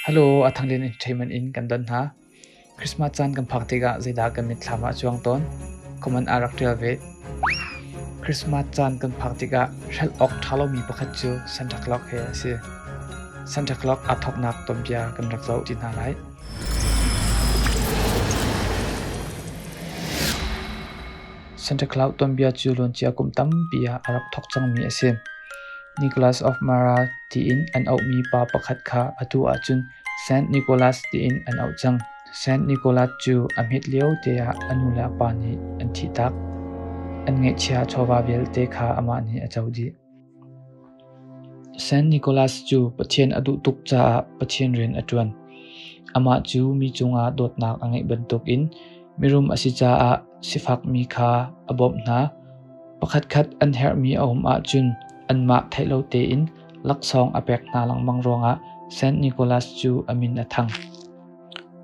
Hello, a thanglian in ṭheiman in kan don hna. Christmas caan kan phak tikah zeidah kan mitthlam ah a cuang tawn? Comment ah rak ṭial ve. Christmas caan kan phak tikah hrelh awk ṭha lomi pakhat cu Santa Claus he a si. Santa Claus aa thawknak tonbia kan rak zoh ti hna lai. Santa Claus tuanbia cu luancia kum tampi ah a rak thawk cangmi a si. Nicholas of Mara tiin an auhmi pa pakhat kha atu ahcun Saint Nicholas tiin an auh cang. Saint Nicholas cu a hmet lio te ah a nu le a pa nih an thih tak. An ngeihchia chawva vialte kha amah nih a co dih. San Nicolas cu Pathian a duh tuk caah Pathian rian a ṭuan. Amah cu mi cungah dawtnak a ngeih bantukin mirum a si caah sifakmi kha a bawmh hna. Pakhatkhat an herhmi a um ahcun anmah theih lo tein laksawng a pek hna lengmang ruangah San Nicolas cu a min a thang.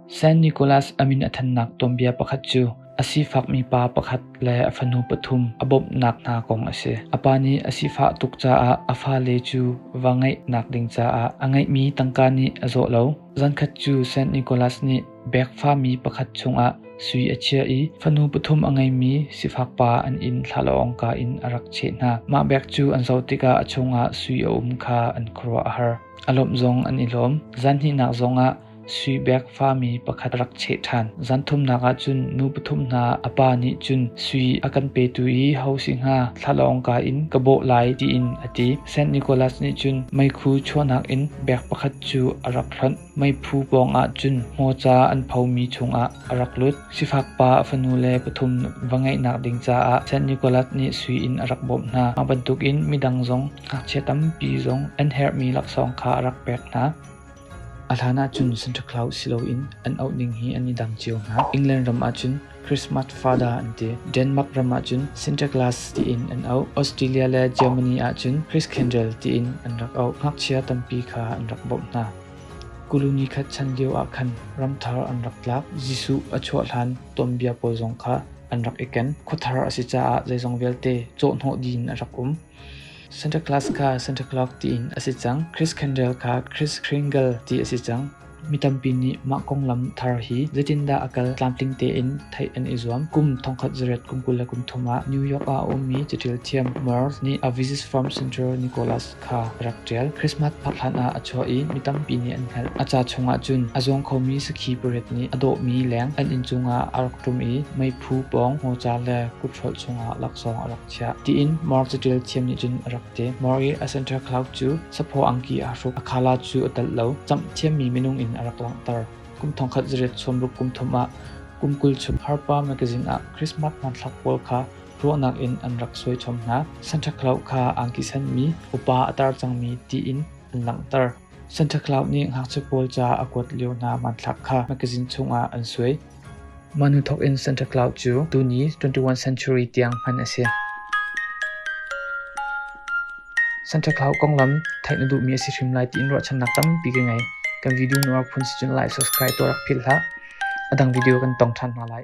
San Nicolas a min a thannak tuanbia pakhat cu a sifakmi pa pakhat le a fanu pathum a bawmhnak hna kong a si. A pa nih a sifah tuk caah a fale cu va ngeihnak ding caah a ngeihmi tangka nih a zawh lo. Zankhat cu San Nicolas nih bek fami pakhat chungah sui a chiah i fanu pathum a ngeimi sifak pa an inn thlalawngka in a rak cheh hna. Mah bek cu an zoh tikah a chungah sui a um kha an khuaruah a har. A lawmh zong an i lawm. Zan hnihnak zongah Suibek fami pakhat rak cheh ṭhan. Zan thumnak ah cun nu pathum hna a pa nih cun sui a kan petu i ho si hnga thlalawng ka in ka bawh lai tiin a ti. Saint Nicholas nih cun meikhu chuahnak in bek pakhat cu a rak hlonh. Meiphu pawngah cun hmawca an phomi chungah a rak lut. Sifak pa a fanu le pathum va ngeihnak ding caah San Nicolas nih sui in a rak bawmh hna. Mah bantukin midang zong ngakchia tampi zong an herhmi laksawng kha a rak pek hna. A hlan ahcun Santa Claus si loin an auh ning hi an i dang cio hna. England ram ahcun Christmas Father an ti. Denmark ram ahcun Santa Claus tiin an auh. Australia le Germany ahcun Christendom tiin an rak auh. Ngakchia tampi kha an rak bawmh hna. Kulu ni khat chan lioah khan ramthar an rak tlak. Jesuh a chuah hlan tuanbia pawl zong kha an rak i ken. Khuathar a si caah zeizong vialte cawhnawh ding a rak um. Santa Claus kha Santa Claus tiin a si cang. Chris Kendall kha Chris Kringle ti a si cang. Mi tampi nih mah konglam thar hi zeitindah a kal tlamtling tein theih an i zuam. Kum thongkhat zarep kum kul le kum thum ah New York ah a ummi caṭil thiam Murs nih a Visit from St. Nicholas kha ka rak ṭial. Christmas phak hlanah a chuah i mi tampi nih an hngalh. A ca chungah cun a zuang khomi sakhi pariat nih a dawhmi leng an inn cungah a rak ṭum i meiphu pawng hmawcha le kuthrolh chungah laksawng a rak chiah, tiin Mark caṭial thiam nih cun a rak ti. Mark i a Santa Claus cu saphaw angki aa hruk, a khala cu a telh lo. Camh thiammi minung in a rak langhter. Kum thongkhat zarep chuamruk kum thum ah kum kul chung Harpa mekazin ah Christmas hmanthlak pawl kha ruahnak in an rak suaichom hna. Santa Claus kha aa kisenmi upa a tar cangmi tiin an langhter. Santa Claus nih ngakchia pawl ca a kuat lio hna hmanthlak kha makazin chungah an suai. Mah hnu thawkin Santa Claus cu tuni 21st century tiang hman a si. Santa Claus konglam theih na duhmi a si hrim lai tiin ruahchannak tampi ka ngei. Kan video nuar phun si cun like subscribe tuah rak philh hlah. A dang video kan tong ṭhan hna lai.